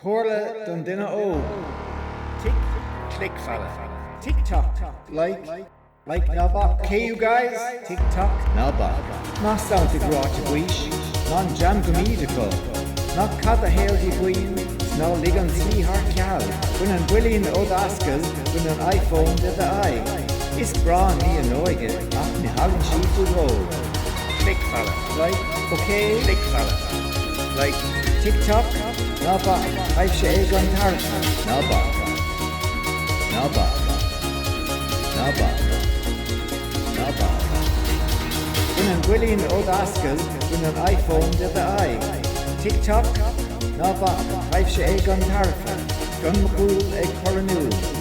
Comhairle don duine óg, Tic, click follow, TikTok, like, like ná bac, okay you guys, TikTok, ná bac, Ná santaigh ráite baois, Ná an dream go mbíd acu, Ná caith do shaol díomhaoin, 'S ná lig an tslí thar ceal, Bain an builín ó d'ascaill, Bain an iPhone de d'aghaidh, Is breá an ní an óige, Ach ní thagann sí faoi dhó. Click follow. Like. Okay. Click follow. Like. TikTok. Ná bac. Aibh sé é an tar. Ná bac. Ná bac. Ná bac. Ná bac. Bain an builín ó d'ascaill, bain an iPhone de d'aghaidh. TikTok. Ná bac. Aibh sé é an tarfa. Gun mú ag choú.